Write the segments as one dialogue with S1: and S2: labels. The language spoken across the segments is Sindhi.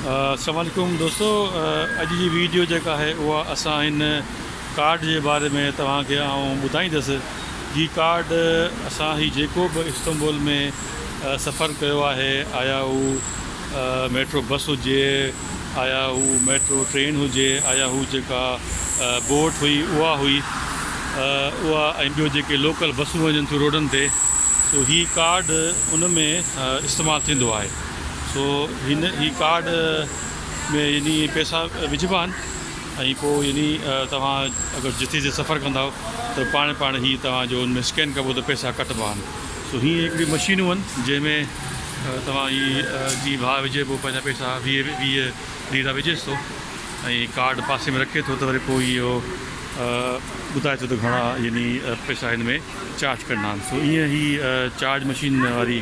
S1: السلام عليڪم دوستو اڄ جي ويڊيو جيڪا آهي اها اسان هن ڪارڊ جي باري ۾ توهان کي آئون ٻڌائيندس جي ڪارڊ اسان هي جيڪو به استنبول ۾ سفر ڪيو آهي آيا هو ميٽرو بس هجي آيا هو ميٽرو ٽرين هجي آيا هو جيڪا بوٽ هئي اها هئي اها ۽ ٻيو جيڪي لوڪل بسون وڃن ٿيون روڊن تي سو هي ڪارڊ ان ۾ استعمال ٿيندو آهي سو هن هي ڪارڊ ۾ يعني پيسا وجهبا آهن ۽ پوء يعني توهان اگر جتي جتي سفر ڪندا آهو ته پاڻ پاڻ هي توهان جو ان ۾ اسڪين ڪبو ته پيسا ڪٽبا آهن سو هي هڪڙي مشينون آهن جنهن ۾ توهان هي جي ڀاء وجهي پوء پنهنجا پيسا ويهه ويهه ليرا وجهيس ٿو ۽ ڪارڊ پاسي ۾ رکي ٿو ته وري پوء اهو ٻڌائي ٿو ته گهڻا يعني پيسا هن ۾ چارج ڪرڻا آهن سو ائين هي چارج مشين واري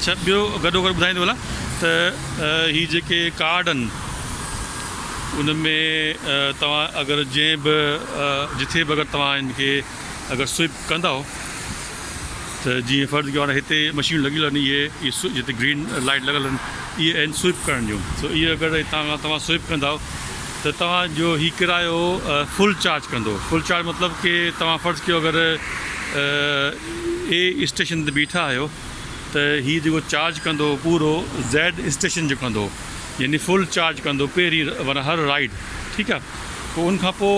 S1: اڇا ٻيو گڏوگڏ ٻڌائيندو هلان ته هي جيڪي ڪارڊ آهن ان ۾ توهان اگر جنهن به جٿي به اگر توهان ان کي اگر سوئپ ڪنداؤ ته جيئن فرض ڪيو هاڻي هتي مشينون لڳيل آهن اهي اهي جتي گرين لائيٽ لڳل آهن اهي آهن سوئپ ڪرڻ جون سو اهي اگر هتان کان توهان سوئپ ڪنداؤ ته توهان جو هي ڪرايو فل چارج ڪندو فل چارج مطلب ڪي توهان فرض ڪيو اگر اي اسٽيشن تي بيٺا آهيو ته هي جيڪو چارج ڪندو پورو زيڊ اسٽيشن جو ڪندو يعني فل چارج ڪندو پهرين ورنه هر رائيڊ ٺيڪ آ پوء ان کان پوء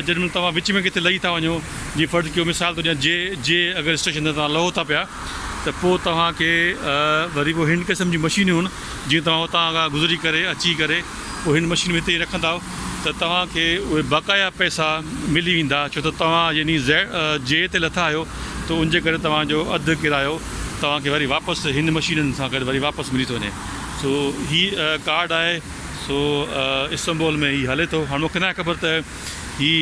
S1: جڏهن مهل توهان وچ ۾ ڪٿي لهي ٿا وڃو جي فرض ڪيو مثال ٿو ڏيان جي جي اگر اسٽيشن تي توهان لهو ٿا پيا ته پوء توهان کي وري پوء هن قسم جي مشينون جي توهان هتان گذري ڪري اچي ڪري پوء هن مشين ۾ هتي رکندا ته توهان کي اهي باقايا پئسا ملي ويندا ڇو ته توهان يعني جي تي لٿا آهيو ته ان جي ڪري توهان جو اڌ ڪرايو توهان کي وري واپس هن مشينن سان گڏ وري واپس ملي ٿو وڃي سو هي ڪارڊ آهي سو استنبول ۾ هي هلي ٿو هاڻ مونکي ناهي خبر ته هي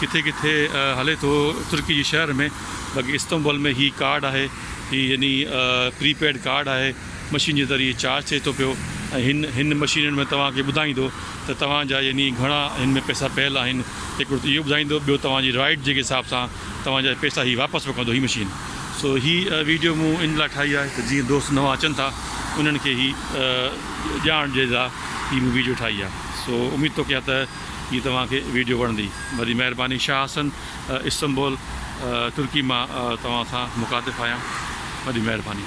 S1: ڪٿي ڪٿي هلي ٿو ترڪي جي شهر ۾ باقي استنبول ۾ هي ڪارڊ آهي هي يعني پري پيڊ ڪارڊ آهي مشين جي ذريعي چارج ٿئي ٿو پيو ۽ هن هن مشينن ۾ توهان کي ٻڌائيندو ته توهان جا يعني گهڻا هن ۾ پئسا پيل آهن هڪڙو ته اهو ٻڌائيندو ٻيو توهان جي رائيڊ جي حساب سان توهان جا پئسا هي واپس وڪندو هي مشين سو هي ويڊيو مون ان لاء ٺاهي آهي ته جيئن دوست نوان اچن ٿا انهن کي هي ڄاڻ ڏئي لاء هي مون ويڊيو ٺاهي آهي سو اميد ٿو ڪيان ته هي توهان کي ويڊيو وڻندي وڏي مهرباني شاهه حسن. استنبول ترڪي مان توهان سان مخاطب آهيان وڏي مهرباني.